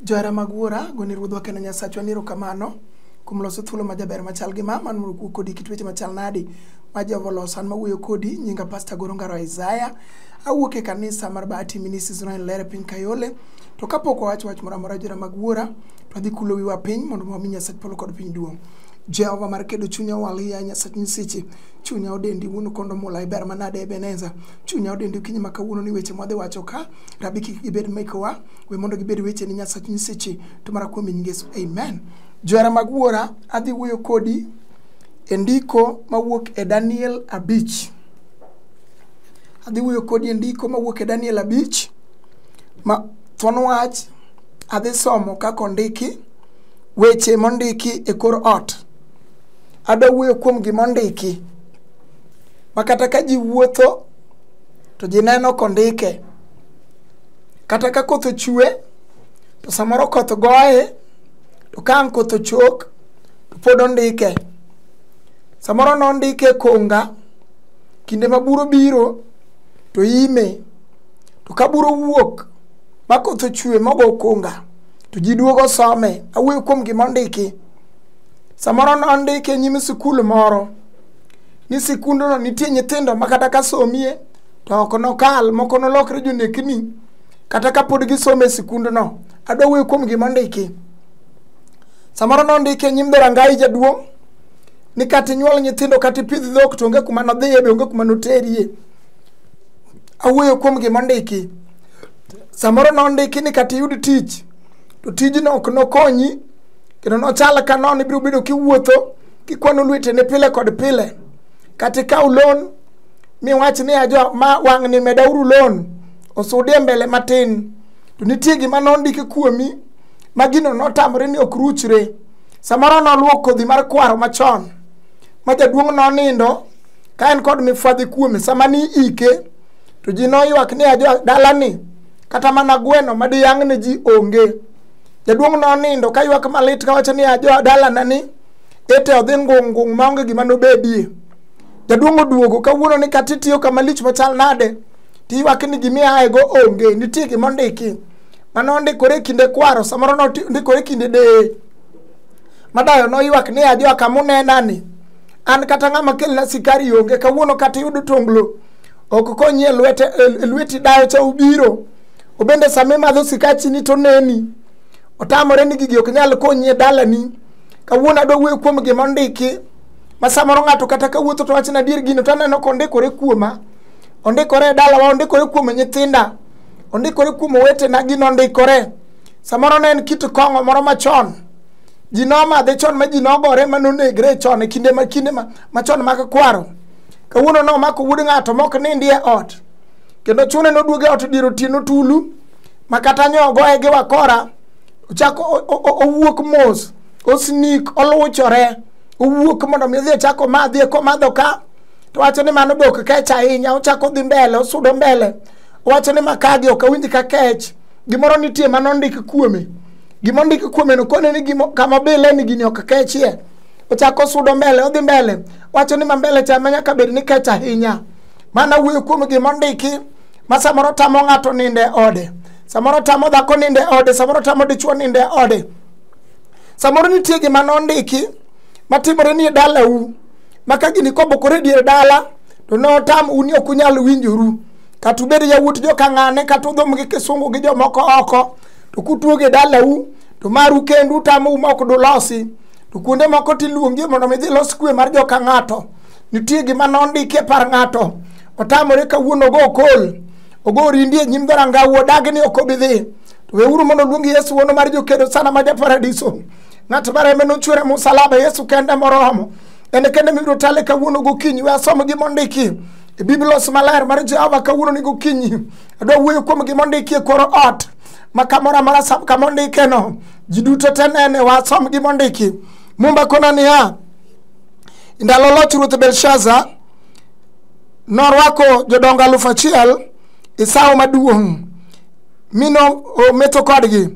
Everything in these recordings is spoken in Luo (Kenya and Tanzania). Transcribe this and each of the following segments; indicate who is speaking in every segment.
Speaker 1: Johera mag wuora, goni ruodhwa kendo Nyasachwa ni erokamano kuom loso thuolo ma jaber machal gi ma man mondo kuo kodi kit weche machal nadi ma Jehova oloso an mawuoyo kodi nyinga Pastor Goro Ngaro Isaiah awuok e kanisa mar Bahati Ministries Royal Lere piny Kayole to kapok wawacho wach moro amora johera mag wuora to adhi kulo wiwa piny mondo wami Nyasach polo kod piny duong' Jehova mar kedo chunya walia Nyasach nyiseche chunya odendi wuon kondo mula iber manade Ebeneza chunya odendi okinyi ma kawuono ni weche mwadhi wacho ka rabi kik gibed mekowa we mondo gibed weche ni nyasach nyiseche to mara kuom nying yesu amen johera mag wuora adhi wuoyo kodi e ndiko mawuok e daniel abich adhi wuoyo kodi e ndiko mawuok e daniel abich ma thuon wach adhi somo kaka ondiki weche mondiki e kor ot adwa wuoyo kuom gima ondiki ma kata ka ji wuotho to ji neno kondike kata ka koth ochue to samoro koth goye to ka ang' koth ochok to pod ondike samoro nondike e konga kinde ma buro biro to ime to ka buro wuok ma koth ochue mogo konga to ji duogo some awuoyo kuom gima ondiki samoro nondike e nyim sikul moro ni sikundono nitie nyithindo ma kata ka somie to ok nokal moko nolokre jonekni kata ka pod gisomo e sikundono adwa wuoyo kuom gima ondiki samoro nondiki e nyim dhorangayi jaduong' ni kata inyuol nyithindo kata ipidh dhok to onge kuma nodhiye be onge kuma noterie awuoyo kuom gima ondiki samoro nondiki ni kata iyud tich to tijno ok nokonyi kendo nochal ka nono ibiro bedo kiwuotho kikwano lwetene pile kod pile kata ikaw loan miwach ni ajo ma wang'ni medauru loan osudie mbele matin to nitie gima nondiki kuomi ma gino notamore ni ok ruchre samoro noluwo kodhi mar kwaro machon ma jaduong' nonindo ka en kod mifwadhi kuome sama ni ike to ji noywak ni ajo dalani kata mana gweno ma diyang'ne ji onge jaduong' nonindo ka ywak malit kawacho ni ajo dalanani ete odhi ngung' ngung' maonge gima nobedie jaduong' oduogo kawuono ni kata itiyo kama lich machal nade tiywak ni gima iaego onge nitie gima ondiki mane ondikore e kinde kwaro samoro nondikore e kinde deye madayo noywak ni ajoa kama unenani an kata ng'ama kelna sikari onge kawuono kata iyudo tonglo ok konyi e lwete e lweti dayo cha ubiro obende sama imadho sikachini to neni otamore ni gigi ok nyal konyi e dalani kawuono adwa wuoyo kuom gima ondiki ma samoro ng'ato kata ka wuotho to wachna adier gino to aneno ka ondikore kuoma ondikore e dalawa ondikore kuom nyithinda ondikore kuom owetena gino ondikore samoro ne en kit kong'o moro machon ji nomadhe chon ma ji nogore ma nonegre chon e kinde ma kinde ma machon mag kwaro kawuono nomako wuod ng'ato mok nindi e ot kendo chune noduoge ot dier otieno tulu ma kata nyogoe gi wakora ochako o- o- o- owuok mos osnik oluchore owuok mondo mi odhi ochak omadhi eka omadho ka to wacho ni mano be ok kech ahinya ochako dhi mbele osudo mbele owacho ni makagi ok awinj ka kech gimoro nitie ma nondik kuome gima ondik kuome no kone ni gimo kama bile ni gini ok kechie ochako sudo mbele odhi mbele wacho ni ma mbele cha ma nyaka bed ni kech ahinya mana wuoyo kuom gima ondiki ma samoro tamo ng'ato ninde ode samoro tamo dhako ninde ode samoro tamo dichuo ninde ode samoro nitie gima nondiki matimore ni e dalau ma ka gini kobokore e dier dala to notam uni ok unyal winjoru kata ubed yawuot jokang'ane kata udhom gi kisungu gi jomoko oko to kutuoge e dalau to maru kendu utamo uma ok dulosi to kuonde moko tiluongi mondo mi dhi los kwe mar joka ng'ato nitie gima nondiki e par ng'ato otamore kawuono ogo okol ogo orindi e nyim dharangau odagi ni ok obi dhi to weuru mondo oluong yesu wuono mar jokedo sana ma japaradiso ng'at ma reme nochwere musalaba yesu kende moromo en kende mibiro tale kawuono gokinyi we asom gi mondiki e biblos maler mar jehova kawuono ni gokinyi adwa wuoyo kuom gi mondiki e kor ot ma kamoro amora sam kama ondikeno ji duto te nene we asom gi mondiki mumba kona niya ndalo loch ruoth belshaza norwako jodongo alufu achiel e sawo maduong' mi nometho kodgi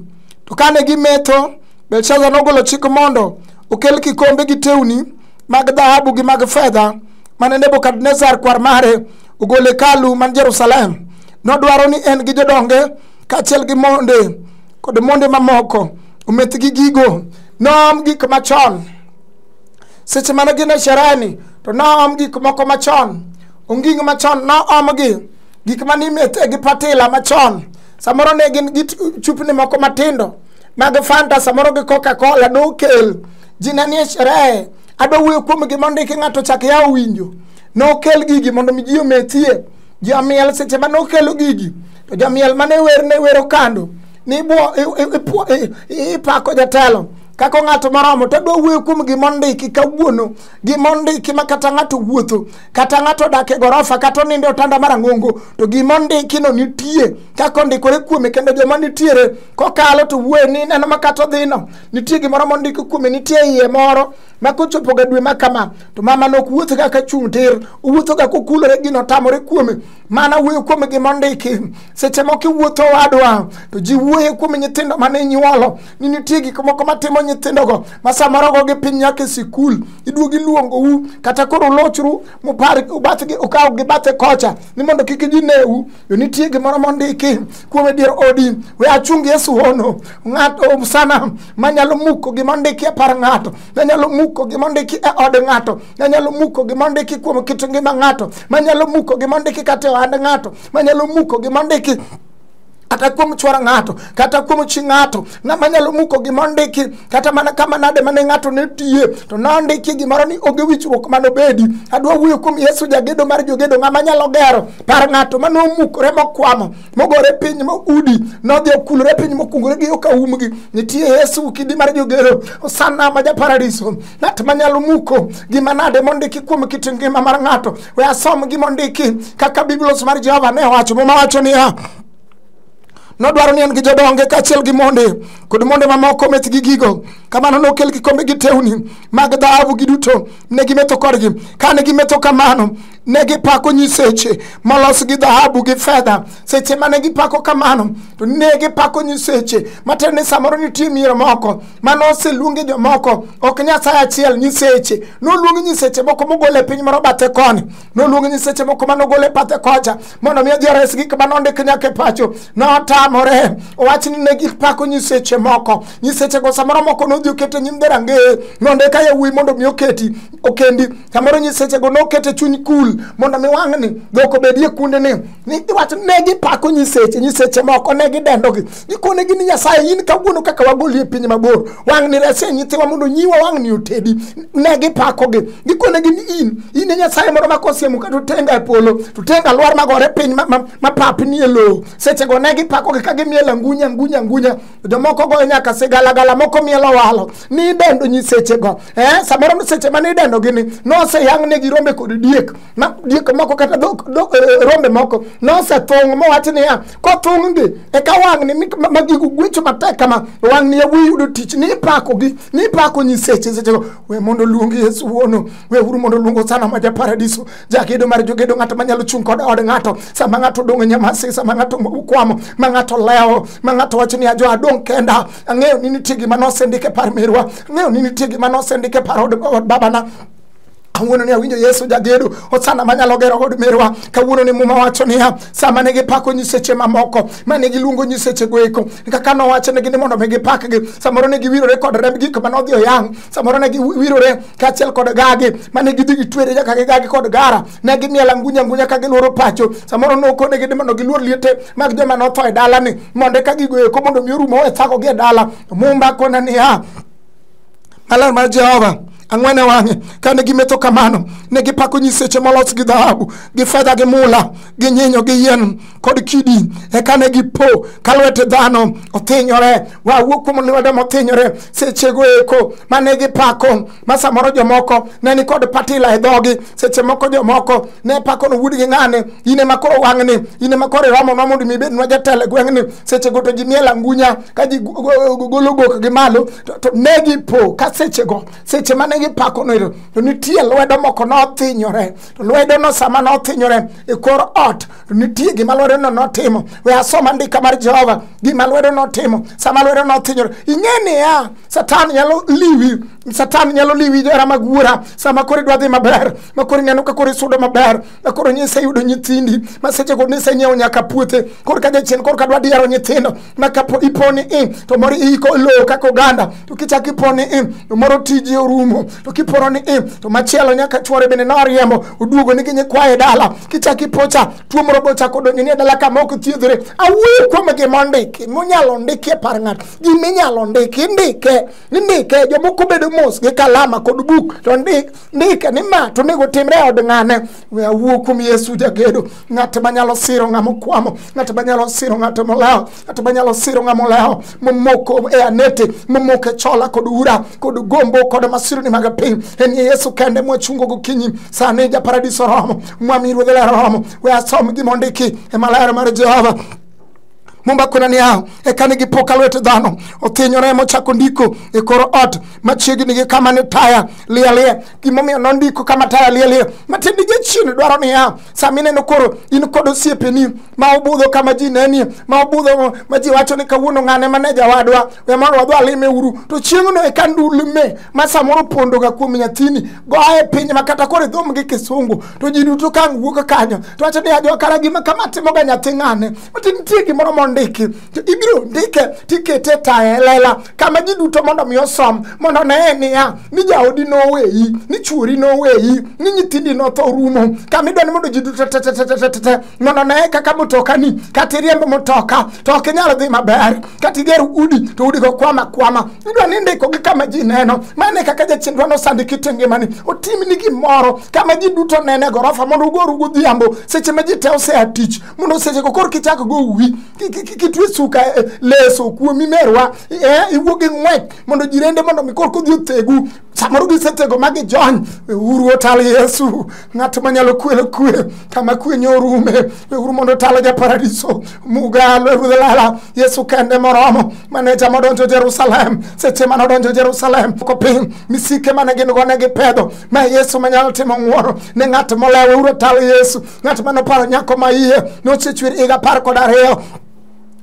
Speaker 1: to kane gimetho belshaza nogolo chik mondo okel kikombe gi tewni mag dhahabu gi mag fedha mane nebukadnezar kwar mare ogolo hekalu man jerusalem nodwaro ni en gi jodonge kaachiel gi monde kod monde mamoko ometh gi gigo noom gik machon seche mane gin e shereni to noom gik moko machon onging machon noomgi gik mane imete gi patila machon samoro ne gin gi chupni moko matindo mag fanta samoro gi coca cola nokel ji ne nie sherehe adwa wuoyo kuom gima ondiki ng'ato chak ya owinjo nokel gigi mondo mi ji omethie ji omiel seche ma nokelo gigi to jomiel mane wer ne wero kando ni ipako jatelo kaka ng'ato moromo to adwa wuoyo kuom gima ondiki kawuono gima ondiki ma kata ng'ato wuotho kata ng'ato odak e gorofa kata oninde otanda mar ang'ongo to gima ondikino nitie kaka ondikore kuome kendo joma nitiere kokalo to wuoyo ni neno ma kata odhino nitie gimoro mondiki kuome nitie iye moro ma kochopoga dwe ma kama to mama nok wuotho ga ka chung' tir owuotho ga kokulore gino tamore kuome mana wuoyo kuome gima ondiki seche moko iwuotho wadwa to ji wuoye kuome nyithindo mane inyuolo ni nitie gik moko matimo nyithindogo ma samoro go gi piny nyaka e sikul iduogi luongou kata koro ulochru mupar ubathgi ukaw gi bathe kocha ni mondo kik gineu yo nitie gimoro mondiki kuom e dier odi we achung yesu hono ng'ato um sana manyalo muko gima ondiki e par ng'ato manyalo muko gima ondiki e od ng'ato manyalo muko gima ondiki kuom kit ngima ng'ato manyalo muko gima ondiki kata e ohand ng'ato manyalo muko gima ondiki kata kuom chwar ng'ato kata kuom chi ng'ato ng'ama nyalo muko gima ondiki kata mana kama nade mane ng'ato ne tiye to nondiki gimoro ni onge wichruok mano bedi adwa wuoyo kuom yesu jagedo mar jogedo ng'ama nyalo gero par ng'ato mane omukore mokwamo mogore piny moudi nodhi okulore piny mokungore gi yoka umgi nitie yesu kidi mar jogedo osana ma japaradiso ng'at manyalo muko gima nade mondiki kuom kit ngima mar ng'ato we asom gima ondiki kaka biblos mar jehova ne owacho muma wacho niya nodwaro ni en gi jodonge kaachiel gi monde kod monde mamoko meth gi gigo kamano nokel kikombe gi tewni mag dhahabu giduto ne gimetho kodgi kane gimetho kamano ne gipako nyiseche molos gi dhahabu gi fedha seche mane gipako kamano to ne gipako nyiseche matiende ni samoro nitie mier moko mane oseluonge jomoko ok nyasaye achiel nyiseche noluonge nyiseche moko mogol e piny moro bathe koni noluonge nyiseche moko mane ogol e bathe kocha mondo omiyo ji ores gik mane ondik nyaka e pacho notamore owach ni ne gipako nyiseche moko nyisechego samoro moko nodhi okete nyim dherangeye nonde ka yawuoyi mondo omi oketi okendi samoro nyisechego nokete chuny kul mondo mi wang'ni dhok obedie kundeni ni iwacho ne gipako nyiseche nyiseche moko ne gidendogi ikonegi ni nyasaye in kawuono kaka wagoli e piny mabor wang'ni rese nyithiwa mondo nyiwa wang'ni otedi ne gipakogi gikonegi ni in in e nyasaye moro makosiemo ka to tenga e polo to tenga lwar magore piny ma- ma- mapapni e lowo sechego ne gipakogi ka gimielo angunya angunya angunya jomoko goyo nyaka sigalagala moko mielo walo ni idendo nyisechego eh, samoro seche mane idendogi ni noseyang'negi rombe kod diek ma diek moko kata dhok dhok eh, rombe moko nosethung' mowach niya kothung'gi eka wang'ni mi- ma- ma gigo gwecho matek kama wang'ni yawuoyi yudo tich ni ipakogi ni ipako nyiseche sechego we mondo oluong yesu wuono we uru mondo oluong osana ma ja paradiso jagedo mar jogedo ng'ato manyalo chung' kod od ng'ato sama ng'ato odong' e nyamasi sama ng'ato kwamo ma ng'ato lewo ma ng'ato wacho ni ajo adong' kenda ang'eyo ni nitie gima nosendike par merwa ang'eyo ni nitie gima nosendike par od od babana kawuono ni awinjo yesu jagedo osana manyalo gero od merwa kawuono ni muma wacho niya sama ne gipako nyiseche mamoko mane giluongo nyisechego eko kaka nowachonegi ni mondo mi gipakgi samoro ne giwirore kod remb gik mane odhi oyang samoro ne giwirore kaachiel kod gagi mane gidhi gitwere nyaka gi gagi kod gara ne gimiel angunya angunya ka gilworo pacho samoro nokonegi ni mondo giluor liete mag joma notho e dalani mondo eka gigo eko mondo mi orumo e thagogi e dala mumba kona niya maler mar jehova ang'wen e wang'e kane gimetho kamano ne gipako nyiseche molos gi dhahabu gi fedha gi mula gi nyinyo gi yien kod kidi eka ne gipo ka lwete dhano othinyore wawuo kuom lwedo mothinyore sechego eko mane gipako ma samoro jomoko ne ni kod patila e dhogi seche moko jomoko ne pako no wuodgi ng'ane in ema koro wang'ni in ema koro iromonwa mondo mi ibednwa jatelo e gweng'ni sechego to ji miel angunya ka ji go- go- go- golo gokgi malo to, to ne gipo ka sechego seche mane gipakono ero to nitie lwedo moko nothinyore to lwedono sama nothinyore e kor ot to nitie gima lwedono notimo we asoma ndika mar jehova gima lwedo notimo sama lwedo nothinyore ing'e niya satan nyalo liwi satan nyalo liwi jera mag wuora sama koro idwa dhi maber ma koro ineno ka koro isudo maber ma koro nise yudo nyithindi ma seche go nise nyiewo nyaka puothe koro ka jachien koro ka dwa diyaro nyithindo ma kapo iponi i to moro iiko lowo kaka oganda to kichak iponi i to moro tiji orumo to kiporo ni i to machielo nyaka chwore bende noriembo oduogo ni ginyi kwaye dala kichak ipocha tuo moro go chako donjo ni e dala kama ok thiedhore awuoyo kuom gima ndiki munyalo ndiki e par ng'ato gima inyalo ndiki indike indike jomoko bedo mos gi kalama kod buk to ndik ndike ni ma to onego timre e od ng'ane we awuo kuom yesu jagedo ng'at manyalo siro ng'ama okwamo ng'at manyalo siro ng'at molewo ng'at manyalo siro ng'ama olewo momoko e anete momoko e chola kod ura kod gombo kod masirni mag piny en ye yesu kende mwachungo gokinyi sani ja paradiso romo mwami ruodhe ler romo we asom gima ondiki e maler mar jehova mumba kwena niya eka ne gipoka lwet dhano othinyore mochako ndiko e kor ot machiegni gi kama ne taya lialia gimomiyo nondiko kama taya lialia matiende jachien dwaro niya sama ineno koro in kod osiepeni ma obudho kama ji nenie ma obudho ma ji wacho ni kawuono ng'ane mane jawadwa we mondo wadhi alime uru to chieng'no eka ndulme ma samoro pondoga kuom nyathini goye piny ma kata koro idhomgi kisungu to ji duto ka ang' wuok kanyo to wacho ni ajo kara gima kama timoga nyathi ng'ane mati nitie gimoro mondiki to ibiro ndike tikete e taye lela kama ji duto mondo mi osom mondo oneye niya ni jaodi noweyi ni chuori noweyi ni nyithindi notho rumo kama idwa ni mondo ji duto tetetetetete mondo oneye kaka motokani kata iriembo motoka to ok inyal dhi maber kata igero udi to udi go kwama kwama idwa ni ndiko gi kama ji neno mane kaka jachindwa nosandi kite ngimani otimni gimoro kama ji duto nene gorofa mondo ugoru godhiambo seche ma ji te osea tich mondo seche go koro kichak go uwi ki- ki- ki- kitwe suka eh, leso kuomi merwa eh, iwuog gi ng'wech mondo jirende mondo mi koro kodhi othegu samoro gisetego ma gijony weuru otal yesu ng'at manyalo kwelo kwe kama kwe nyorume weuru mondo otal ja paradiso mugalo ruodh lala yesu kende moromo mane jama odonjo jerusalem seche mane odonjo jerusalem ko piny misike mane gin go ne gipedho ma yesu manyalo timo ng'woro ne ng'at molewo weuru otal yesu ng'at mane oparo nyako ma iye nochechwer higa apar kod ariyo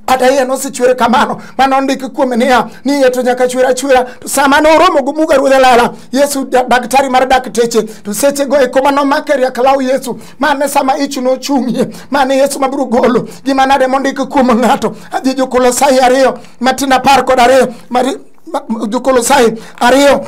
Speaker 1: kata iye nosechwer kamano mane ondiki kuome niya ni iye to nyaka chwer achwera to sama noromo gi muga ruodh alala yesu da- daktari mar dakteche to sechego eko ma nomake riak law yesu mane sama ich nochung'ie mane yesu mabiro golo gima nade mondiki kuom ng'ato adhi jokolosai ariyo matin apar kod ariyo mari- ma- jokolosai ariyo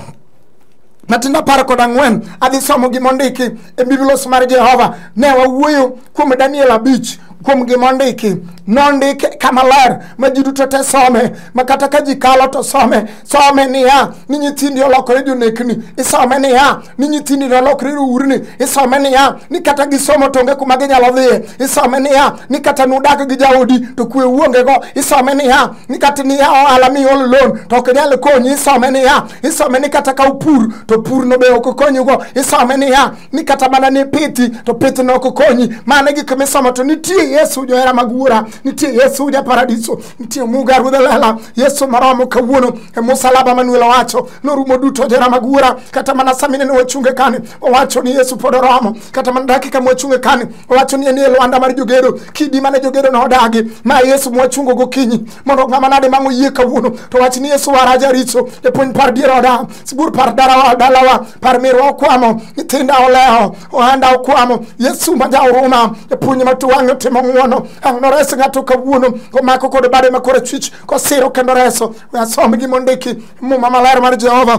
Speaker 1: matin apar kod ang'wen adhi somo gima ondiki e biblos mar jehova ne wawuoyo kuom daniel abich kuom gima ondiki nondike kama ler ma ji duto te some ma kata ka ji kalo to some some niya ni nyithindi olokore jonekni isome niya ni nyithindi nolokore rourni isome niya ni kata gisomo to onge kuma ginyalo dhiye isome niya ni kata nudak gi jaodi to kwe uongego isome niya ni kata niya ohala miolo loan to ok inyal konyi isome niya isome ni kata ka upur to purno be ok okonyigo isome niya ni kata mana ni pithi to pithno ok okonyi mano e gik misomo to nitie yesu johera mag wuora nitie yesu ja paradiso nitie muga ruodh lela yesu maromo kawuono e musalaba manuel owacho norumo duto johera mag wuora kata mana samine ne wachunge kani owacho ni yesu pod oromo kata mana dakika mwachunge kani owacho ni nie lwanda mar jogedo kidi mane jogedo nodagi ma yesu mwachungo gokinyi mondo ng'ama nade mang' oyie kawuono to wach ni yesu wara jaricho japuonj par dier oda sibur par darawa dalawa par mirwa okwamo nyithinda oleho ohanda okwamo yesu ma jauruma japuonj ma tuwang'e timo ng'wono ang' nores ng'ato kawuono komako kod bade ma korachwich kosiro kendo reso we asom gi mondiki muma maler mar jehova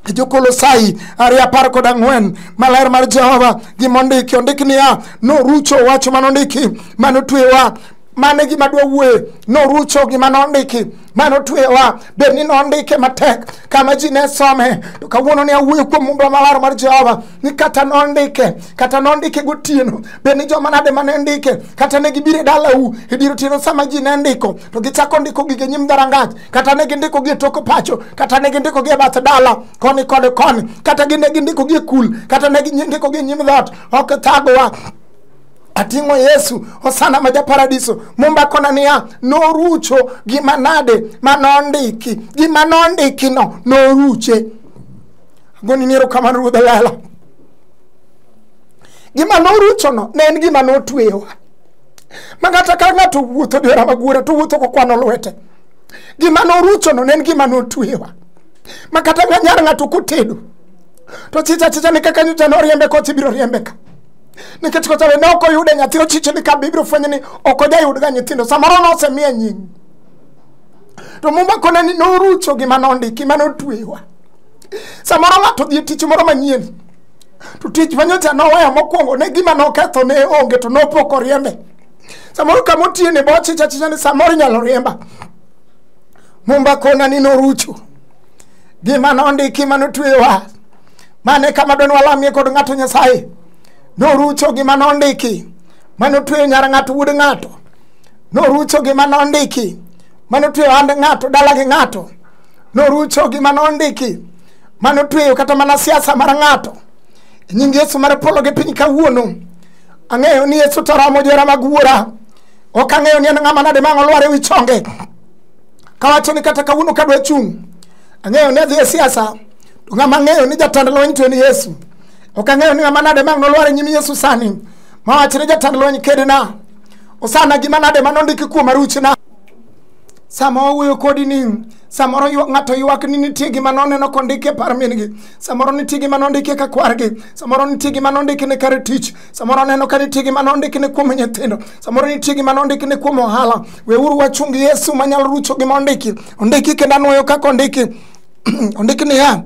Speaker 1: e jokolosai ariyo apar kod ang'wen maler mar jehova gima ondiki ondik niya norucho wach mane ondiki mane otwewa mane gima dwa wuoye norucho gima nondiki mane otwewa bed ni nondike matek kama ji ne some to kawuono ne awuoyo kuom mumba maler mar jehova ni kata nondike kata nondike gotieno bed ni joma nade mane ndike kata ne gibiro e dalau e dier otieno sama ji ne ndiko to gichako ndiko gige nyim dharangach kata ne gindiko gi e tok pacho kata ne gindiko gi e bath dala koni kod koni kata gi ne gindiko gi e kul kata ne gindiko gi e nyim dhoot ok thagowa ating'o yesu osana ma japaradiso mumba kona niya norucho gima nade ma nondiki gima nondikino noruche goni ni erokamano ruodh lela gima noruchono ne en gima notweyowa ma kata ka ng'ato wuotho diora magura to wuotho kokwano lwete gima noruchono ne en gima notwewa ma kata nyar ng'ato kotedo to chicha chicha ni kaka nyocha noriembe koch ibiro riembe ka nikech kocha be ne ok oyude nyathi ochiche ni ka be ibiro fwenyo ni ok ojayudga nyithindo samoro nosemiye nying to muma kone ni norucho gima nondiki ma notwewa samoro ng'ato dhi e tich moro manyien to tich ma nyocha noweyo mokwongo ne gima noketho ne onge to nopok oriembe samoro kama otiye ni bochicha achicha ni samoro inyalo riemba mumba kona ni norucho gima nondiki ma notweyowa mane kama dwa ni walamie kod ng'ato nyasaye norucho gima nondiki ma notweyo nyar ng'ato wuod ng'ato norucho gima nondiki ma notweyo hand ng'ato dala gi ng'ato norucho gima nondiki ma notweyo kata mana siasa mar ng'ato E nying yesu mar polo gi piny kawuono ang'eyo ni yesu toromo jora mag wuora ok ang'eyo ni en ng'ama nade ma ang' olwar e wi chonge kawacho ni kata kawuono kadwa chung' ang'eyo ni adhi e siasa to ng'ama ang'eyo ni jatend lweny to en yesu ok ang'eyo ni ng'ama nade ma ang' nolwar e nyim yesu sani mawach ni jatend lweny kedna osana gima nade ma nondiki kuom aruchna sama wawuoyo kodi ni samoro ywa- ng'ato ywak ni nitie gima noneno kondiki e par min-gi samoro nitie gima nondiki ka kwargi samoro nitie gima nondiki ne kar tich samoro aneno ka nitie gima nondiki ne kuom nyithindo samoro nitie gima nondiki ne kuom ohala weuru wachung yesu manyalo rucho gima ondiki ondiki kendo anwoyo kaka ondiki ondiki niya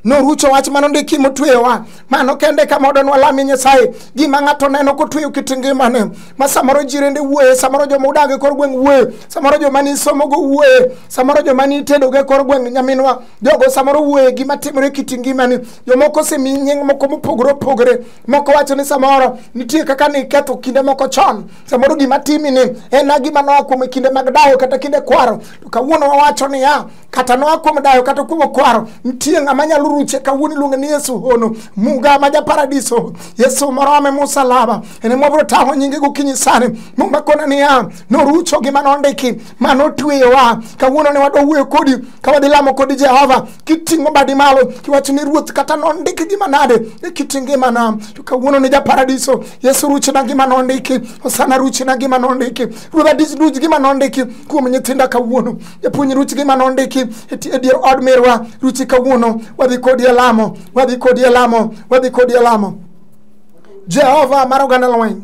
Speaker 1: norucho wach ma nondiki motweyowa mano kende kama odonwa lami nyasaye gima ng'ato neno kotweyo kit ngimane ma samoro jirende wuoye samoro joma udag e kor gweng' wuoye samoro joma nisomogo wuoye samoro joma nitedogo e kor gweng' nyaminwa jogo samoro wuoye gima timore e kit ngimani jomoko osemi nying moko mopogore opogore moko wacho ni samoro nitie kaka niketho kinde moko chon samoro gima timini en na gima noa kuom e kinde mag dayo kata kinde kwaro to kawuono wawacho niya kata noa kuom dayo kata kuom okwaro nitie ng'ama nyalo ruche kawuono iluonge ni yesu hono muga ma japaradiso yesu moro ame musalaba ene mwabiro tang'o nyinge gokinyi sani muma kona niya norucho gima nondiki ma notweyowa kawuono ne wadwa wuoyo kodi ka wadhi lamo kodi jehova kiting'o badi malo kiwacho ni ruoth kata nondiki gima nade e kiti ngimana to kawuono ni japaradiso yesu ruchna gima nondiki osana ruchna gima nondiki ruodha diduch gima nondiki kuom nyithinda kawuono japuonj ruch gi mane ondiki e ti- e dier od mirwa ruchi kawuono wadhi kodi e lamo wadhi kodi e lamo wadhi kodi e lamo jehova mar oganda lweny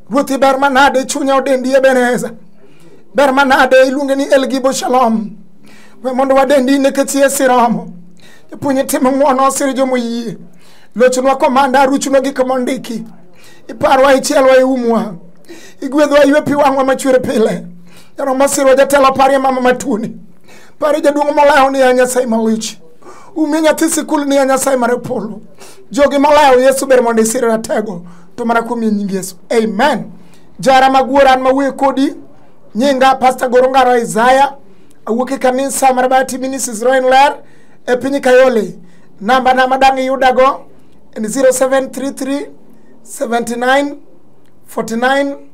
Speaker 1: ruothi ber manade chunya odendi ebeneza ber manade iluonge ni elgibo shalom we mondo wadendi nikech yesu romo japuonj tim ng'wono osir jomo yie lochonwa komanda ruchunwa gik mondiki iparwa ichielwa iumwa igwedhwa ywe pi wang'wa machwer pile Jaro masiro jatelo parie mama matuni. Parie jaduong' molawo ni ya Nyasaye malich. Umie nyathi sikul ni ya Nyasaye mar polo. Jogi molawo Yesu ber mondo isir ratego to mana kuom yie nying Yesu. Amen. Jara maguor an mawuoyo kodi nyinga Pastor Goro Ngaro Isaiah awuok e kanisa mar Bati Ministries Roin Ler e piny Kayole. Namba na madang' iyudago en 0733 79 49